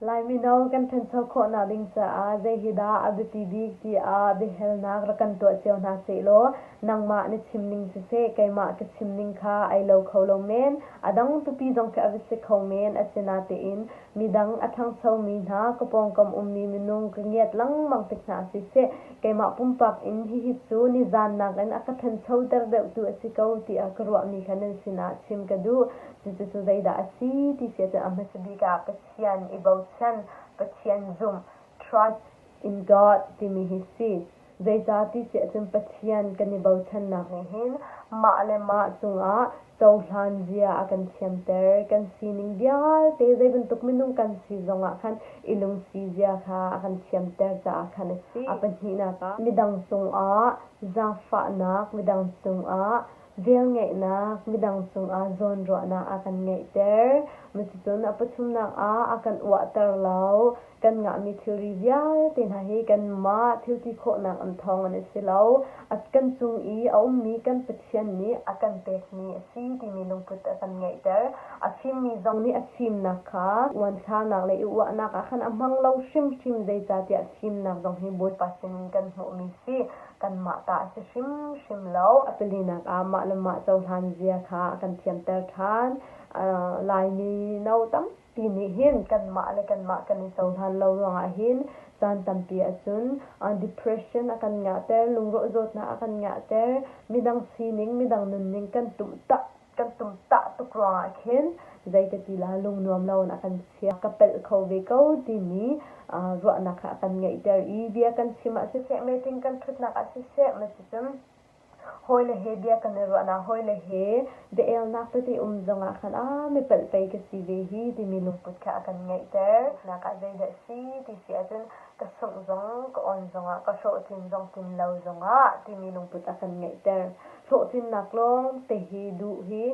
Lai mino kan ṭhancho khawhnak ding caah zei hi dah a biapi bik tiah biahalnak rak kan tuah cio hna sehlaw nangmah na chim ning siseh keimah ka chim ning kha ai lo kho lo men, a dang tupi zong kha a va si kho men. Asinatein midang a ṭhangchomi hna, ka pawngkam ummi minung ka ngiat lengmang tik hna siseh keimah pumpak in hihi cu nizan nakin a ka ṭhanchoter deuhtu a si ko tiah ka ruahmi kha nan sinah chim ka duh. Cucu zeidah a si ti si ahcun a hmasa bik ah Pathian i bochan, Pathian zumh, trust, in God timi hi si. Zeicah ti si ahcun Pathian kan i bochannak nih hin mah le mah cungah cohlan zia a kan thiamter. Kan sining vialte zei bantuk minung kan si zongah khan i lungsi zia kha a kan thiamter caah khan a si. A pahnihnak ah midang cungah zaangfahnak, midang cungah Velngeihnak midang cungah zawnruahnak a kan ngeihter. Cucun a pathumnak ah a kan uahter lo. Kan ngahmi thilri vialte hna hi kanmah thilti khawhnak in thawng an i si lo. Kan cung i a ummi kan Pathian nih a kan pekmi a si timi lungput a kan ngeihter. A fimmi zong nih a fimnak kha uanthlarnak le i uahnak ah khan a hmang lo hrimhrim. Zeicahtiah fimnak zong hi Bawipa sinin kan hmuhmi si. kanmah ta a si hrimhrim lo. A palinak ah mah le mah cohlan zia kha a kan thiamter ṭhan. Laimi no tampi nih hin kanmah le kanmah kan i cohlan lo ruangah hin caan tampi ahcun depression a kan ngahter, lungrawh zawtnak a kan ngahter, midang sining, midang nunning kan tumh tak kan tumtah tuk ruangah khin zeikatila lungnuam loin a kan chiah, ka pelh kho ve ko timi ruahnak kha a kan ngeihter i bia kan chim ah siseh, meeting kan ṭhutnak ah siseh nasicun hawile he bia kan i ruahnak, hawile he biaelnak tete um zongah khan aa mipelh pei ka si ve hi timi lungput kha a kan ngeihter. Nakah zeidah a si ti si ahcun ka sungh zong, ka on zongah, ka hlawhtlin zong, tlin lo zongah timi lungput a kan ngeihter. hlawhtlinnak lawngte hi duh hi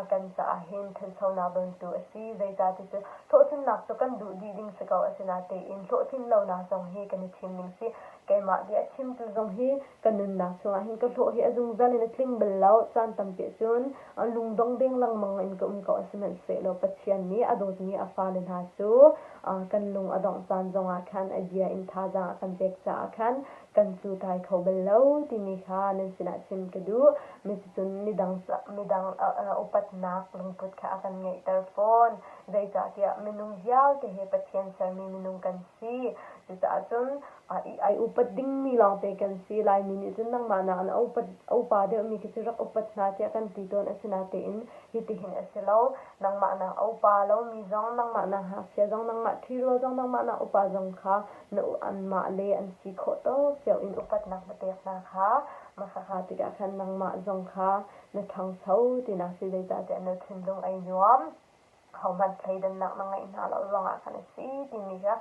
kan caah hin thanchonak bantuk a si. Zeicahtiah cu hlawhtlinnak cu kan duh dih ding si ko. Asinatein hlawhtlin lonak zong hi kan i thim ning si. Keimah bia a chimtu zong hi ka nunnak chungah hin ka hlawh hi a zungzal in a tling bal lo. Caan tampi ahcun lungdong deng lengmang in ka um ko. Sihmanhsehlaw Pathian nih a dawtmi a fale hna cu kan lung a dongh caan zongah khan a bia in thazaang a kan pek caah khan kan cu thai kho bal lo timi kha nan sinah chim ka duh. Cucun midang midang upatnak lungput kha a kan ngeihter fawn. Zeicahtiah minung vialte hi Pathian sermi minung kan si. Cucaah cun i upat dingmi lawngte kan si. Laimi nih cun nangmah nakin a upa deuhmi khi cu rak upat hna tiah kan ti tawn. Asinatein hitihin a si lo. Nangmah nak a upa lomi zong, nangmah nak ngakchia zong, nangmah ṭhi rual zong, nangmah nak upa zong kha na u anmah le an si khawh tuk tiang in upatnak na pek hna kha mahakha tikah khan nangmah zong kha na ṭhangcho tinak si zeicahtiah na thinlung ai nuam kho hmanh thleidannak na ngeih hna lo zongah khan a si timi kha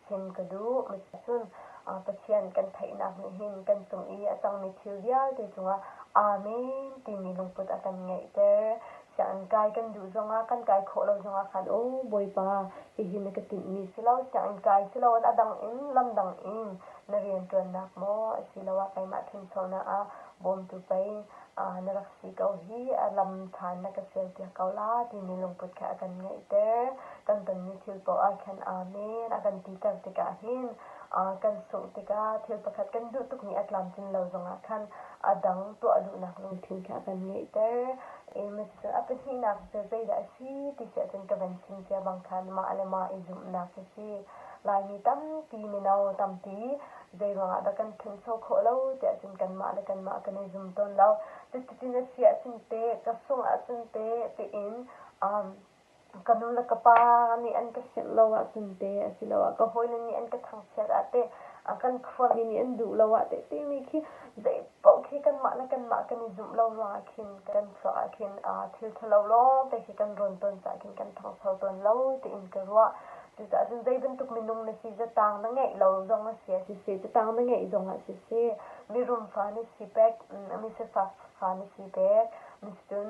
chim ka duh. Cun Pathian kan theihnak nih hin kan cung i a cangmi thil vialte cungah Amen timi lungput a kan ngeihter. Siah an kai kan duh zongah kan kai khawh lo zongah khan aw Bawipa, hihi na ka tinhmi si lo, sianginn kai siloin a dang in lam dang in na rianṭuannak maw asiloah keimah ṭhencheunak ah bawmtu pei na rak si ko hi a lam ṭhan na ka sialpiak ko la timi lungput kha a kan ngeihter. Kan tonmi thil paoh ah khan Amen a kan titer tikah hin kan sungh tikah thil pakhat kan duh tukmi a tlamtlin lo zongah khan a dang tuah duhnak lungthin kha a kan ngeihter. Amos cu a pahnihnak cu zeidah a si ti cu ahcun ka van chim cia bang khan mah le mah i zumhnak hi si. Laimi tampi mino tampi zeiruangah dah kan ṭhangcho khawh lo ti ahcun kanmah le kanmah kan i zum tawn lo. Cuticun a si ahcun teh, ka sungh ahcun teh tiin ka nu le ka pa nih an ka hngilh lo ahcun te asiloah ka hawile nih an ka thangchiat ah teh a kan khuami nih an duh lo ah teh timi khi zeipaoh khi kanmah le kanmah kan i zumh lo ruangah khin kan chuah ah khin thil ṭhalo lawngte khi kan rawn ton caah khin kan ṭhangcho tawn lo tiin ka ruah. Cucaah cun zei bantuk minung na si catang na ngeih lo zong a si ah siseh catang na ngeih zongah siseh mirum fa na si pek mi sifak fa na si pek. Na si cun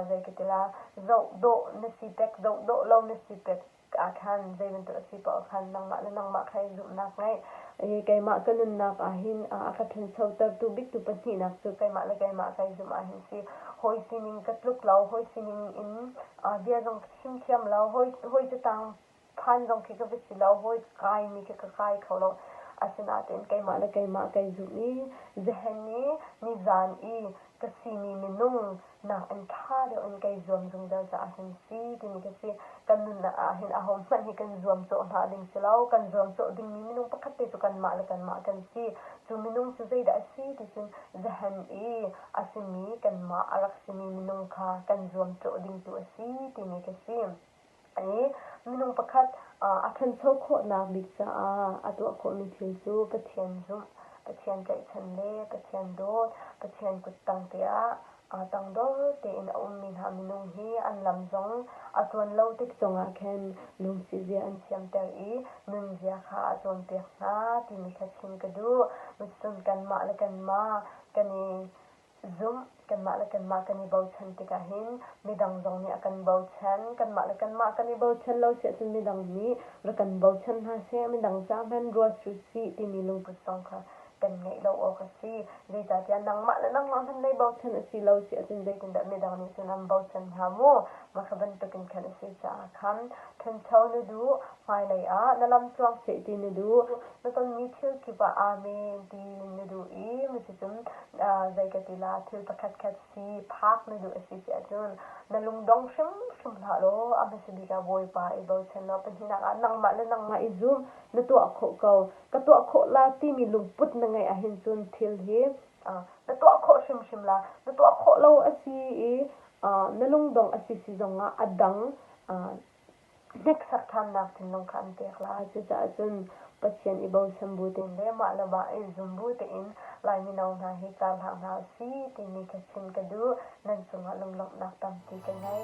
zei ka ti la, zoh dawh na si pek, zoh dawh lo na si pek ah khan zei bantuk a si paoh khan nangmah le nangmah kha i zumhnak ngeih. I keimah ka nunnak ahhin a ka ṭhanchotertu biatu pahnihnak cu keimah le keimah ka i zumh ahhin si. Hawi sining ka tluk lo, hawi sining in bia zong ka chim thiam lo, hawi hawi catang phan zong khi ka va si lo hawi kaimi khi ka kai kho lo asinain keimah le keimah kai zumh i zahen i nizan i ka simi minung nakin ṭha deuh in kai zuam zungzal caah hin si timi ka si kan nun ah hin aho hmanh hi kan zuam cawh hna ding si lo kan zuam cawh dingmi minung pakhat te cu kanmah le kanmah kan si cu minung cu zeidah a si ti cun zahen i a simi kanmah a rak simi minung kha kan zuam cawh ding tu a si timi ka si Minung pakhat a ṭhancho khawhnak bik caah a tuah khawhmi thil cu Pathian zumh, Pathian tlaihchan le Pathian dawt, Pathian kuttangte ah tangdor tein a ummi hna minung hi an lam zong a tluan lo tik zongah khin lungsizia an thiamter i nunzia kha a cawnpiak hna timi kha chim ka duh. Cun kanmah le kanmah kan i zumh, kanmah le kanmah kan i bochan tikah hin midang zong nih a kan bochan, kanmah le kanmah kan i bochan lo si ahcun midang nih rak kan bochan hna seh, midang caah hman ruat u sih timi lungput zong kha kan ngeih lo awk a si. Zeicahtiah nangmah le nangmah hmanh lei bochan a si lo si ahcun zeitindah midang nih cun an bochan hnga mu? Mah kha bantukin khan a si caah khan ṭhancho na duh, hmailei ah na lam cuang seh ti na duh, na tonmi thil kip ah amen tiin na duh i mi cu cun zei ka ti la thil pakhatkhat si phak na duh a si ti ahcun na lungdong hrimhrim hlah law a hmasa bik ah Bawipa i bochan law pahninak ah nangmah le nangmah i zum na tuah khawh ko ka tuah khawh la timi lungput na ngeih ahhin cun thil hi na tuah khawh hrimhrim la na tuah khawh lo a si i na lungdong a si si zongah a dang Deksak ṭhannak thinlung kha an pek lai. Cucaah cun Pathian i bochan bu tein le mah le mah i zum bu tein Lai mino hna hi kaa hlah hna u sih timi ka chim ka duh. Nan cungah lunglawmhnak tampi ka ngei.